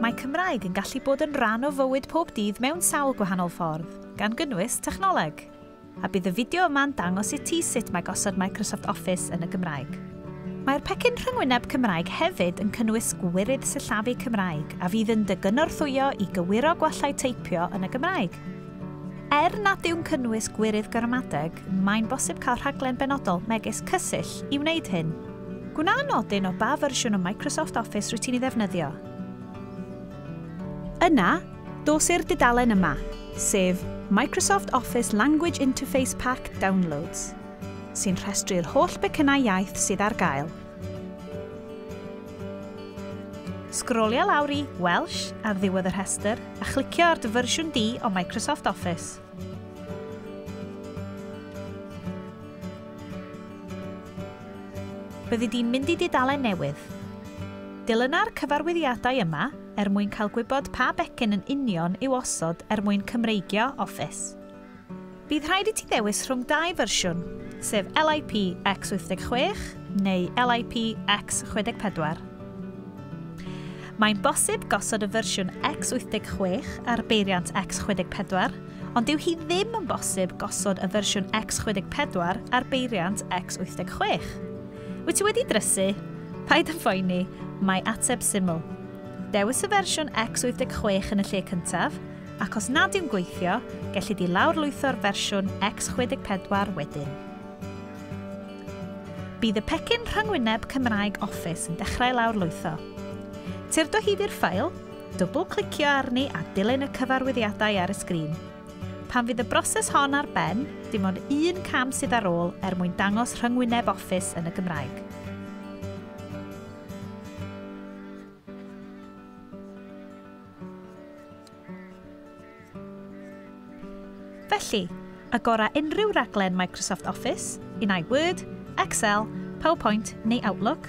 Mae Cymraeg yn gallu bod yn rhan o fywyd pob dydd mewn sawl gwahanol ffordd, gan gynnwys technoleg. A bydd y fideo yma'n dangos i ti sut mae gosod Microsoft Office yn y Gymraeg. Mae'r pecyn rhyngwyneb Cymraeg hefyd yn cynnwys gwirydd sillafu Cymraeg a fydd yn dy gynorthwyo i gywiro gwallau teipio yn y Gymraeg. Er nad yw'n cynnwys gwirydd gramadeg, mae'n bosib cael rhaglen benodol, megis Cysill, i wneud hyn. Gwna nodyn o ba fersiwn o Microsoft Office rwyt ti'n ei ddefnyddio. Yna, dos i'r dudalen yma, sef Microsoft Office Language Interface Pack Downloads, sy'n rhestru'r holl becynnau iaith sydd ar gael. Sgrolia lawr i Welsh ar ddiwedd y rhestr a chlicio ar dy fersiwn di o Microsoft Office. Byddi di'n mynd i dudalen newydd. Dilyna'r cyfarwyddiadau yma er mwyn cael gwybod pa becyn yn union i'w osod er mwyn Cymreigio Office. Bydd rhaid i ti ddewis rhwng dau fersiwn, sef LIP X86 neu LIP X64. Mae'n bosib gosod y fersiwn X86 ar beiriant X64, ond dyw hi ddim yn bosib gosod y fersiwn X64 ar beiriant X86. Wyt ti wedi drysu? Paid yn phoeni, mae ateb syml. Dewis y fersiwn X86 yn y lle cyntaf, Ac os nad yw'n gweithio, gellid di lawrlwytho'r fersiwn X64 wedyn. Bydd y pecyn rhyngwyneb Cymraeg Office yn dechrau lawrlwytho. Tyrd o hyd i'r ffail, dwbl-clicio arni a dilyn y cyfarwyddiadau ar y sgrin. Pan fydd y broses hon ar ben, dim ond un cam sydd ar ôl er mwyn dangos rhyngwyneb Office yn y Gymraeg. Felly, agora unrhyw raglen Microsoft Office, un ai Word, Excel, PowerPoint neu Outlook,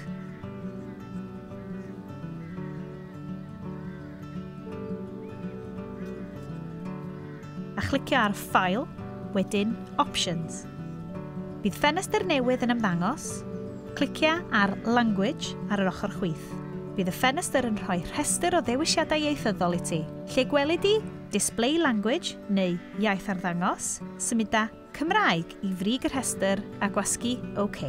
a chlicio ar File, wedyn Options. Bydd ffenestr newydd yn ymddangos. Clicia ar Language ar yr ochr chwith. Bydd y ffenestr yn rhoi rhestr o ddewisiadau ieithyddol i ti. Lle gweli di Display Language neu Iaith Arddangos, symuda Cymraeg i frig y rhestr a gwasgu OK.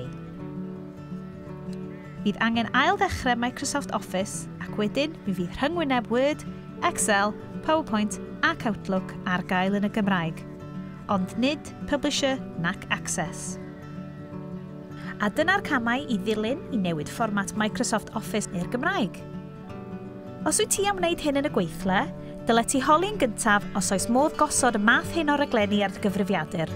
Bydd angen ail-ddechrau Microsoft Office ac wedyn mi fydd rhyngwyneb Word, Excel, PowerPoint ac Outlook ar gael yn y Gymraeg. ond nid Publisher nac Access. A dyna'r camau i ddilyn i newid fformat Microsoft Office i'r Gymraeg. Os wyt ti am wneud hyn yn y gweithle, dylet ti holi'n gyntaf os oes modd gosod y math hyn o raglenni ar dy gyfrifiadur.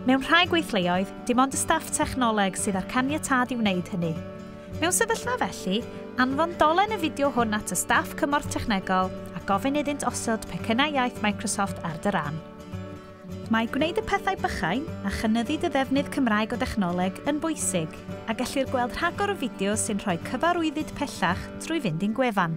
Mewn rhai gweithleoedd, dim ond y staff technoleg sydd â'r caniatâd i wneud hynny. Mewn sefyllfa felly, anfon dolen y fideo hwn at y staff cymorth technegol a gofyn iddynt osod pecynnau iaith Microsoft ar dy ran. Mae gwneud y pethau bychain a chynyddu dy ddefnydd Cymraeg o dechnoleg yn bwysig, a gellir gweld rhagor o fideos sy'n rhoi cyfarwyddyd pellach trwy fynd i'n gwefan.